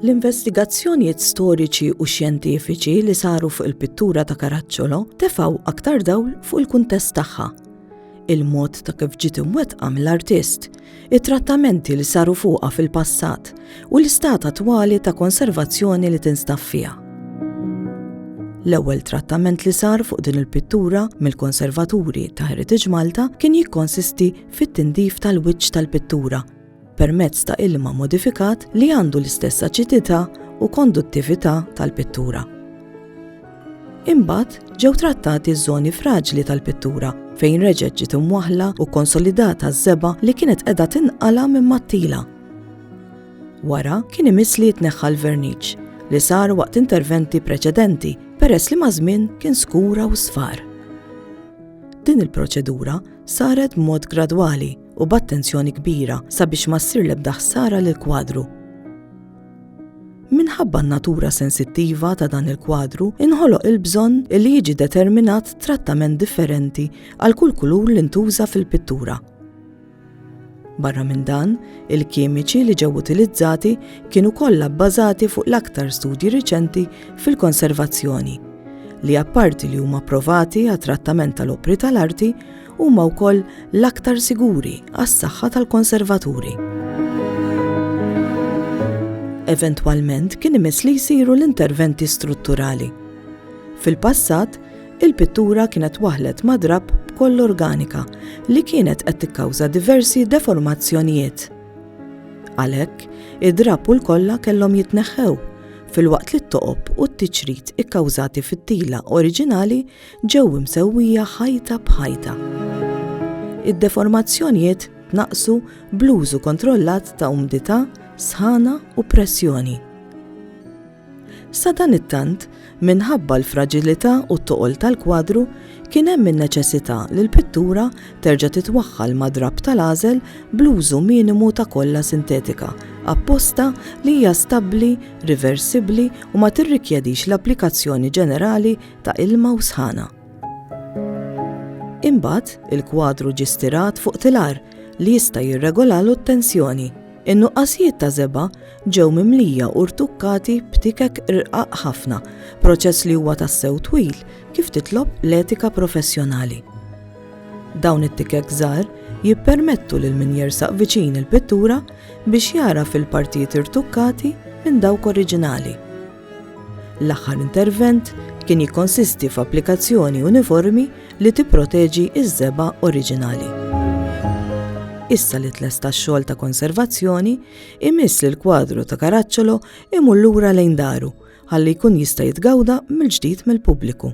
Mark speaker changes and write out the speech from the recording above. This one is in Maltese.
Speaker 1: L-investigazzjonijiet storiċi u xjentifiċi li saru fuq il-pittura ta' Karaċċolo tefaw aktar dawl fuq il-kuntest tagħha. Il-mod ta' kif ġiet imwettqa mill-artist, it-trattamenti li saru fuqha fil-passat, u l-istat attwali ta' konservazzjoni li tinstab fiha. L-ewwel trattament li sar fuq din il-pittura mill-konservaturi ta' Heritage Malta kien jikkonsisti fit-tindif tal-wiċċ tal-pittura permezz ta' ilma modifikat li għandu l-istess aċidità u konduttività tal-pittura. Imbagħad ġew trattati ż-żoni fraġli tal-pittura fejn reġgħet ġiet imwaħla u konsolidata ż-żeba li kienet qiegħda tinqala minn mattila Wara kien imiss li jitneħħa l-verniċ li sar waqt interventi preċedenti peress li maż-żmien kien skura u sfar. Din il-proċedura saret b'mod gradwali u b'attenzjoni kbira sabiex ma ssir l-ebda ħsara lil kwadru Minħabba n-natura sensittiva ta' dan il-kwadru, inħoloq il-bżonn li jiġi determinat trattament differenti għal kull kulur li ntuża fil-pittura. Barra minn dan, il-kimiċi li ġew utilizzati kienu kollha bbażati fuq l-aktar studji riċenti fil-konservazzjoni, li apparti li huma provati għat trattament tal-opri tal-arti, huma wkoll l-aktar siguri għas-saħħa tal-konservaturi. Eventwalment kien imiss li jsiru l-interventi strutturali. Fil-passat, Il-pittura kienet waħlet ma' drapp b'koll organika li kienet qed tikkawża diversi deformazzjonijiet. Għalhekk, id-drapp u l-kolla kellhom jitneħħew, filwaqt li t-toqob u t-tiċrit ikkawżati fit-tila oriġinali ġew imsewwija ħajta b'ħajta. Id-deformazzjonijiet tnaqqsu bl-użu kontrollat ta' umdità, sħana u pressjoni. Sadanittant, minħabba l-fraġilità u t-toqol tal-kwadru, kien hemm in-neċessità li l-pittura terġa' titwaħħal ma' drapp tal-għażel bl-użu minimu ta' kolla sintetika apposta li hija stabbli, riversibbli u ma tirrikjedix l-applikazzjoni ġenerali ta' ilma u sħana. Imbagħad, il-kwadru ġie stirat fuq tilar li jista' jirregolalu t-tensjoni. In-nuqqasijiet ta' żebgħa ġew mimlija u rtukkati b'tikek rqaq ħafna, proċess li huwa tassew twil kif titlob l-etika professjonali. Dawn it-tikek żgħar jippermettu lil min jersaq viċin il-pittura biex jagħraf il-partijiet irtukkati minn dawk oriġinali. L-aħħar intervent kien jikkonsisti f'applikazzjoni uniformi li tipproteġi ż-żebgħa oriġinali. Issa li tlesta x-xogħol ta' konservazzjoni, imiss li l-kwadru ta' Caracciolo imur lura lejn daru ħalli jkun jista' jitgawda mill-ġdid mill-pubbliku.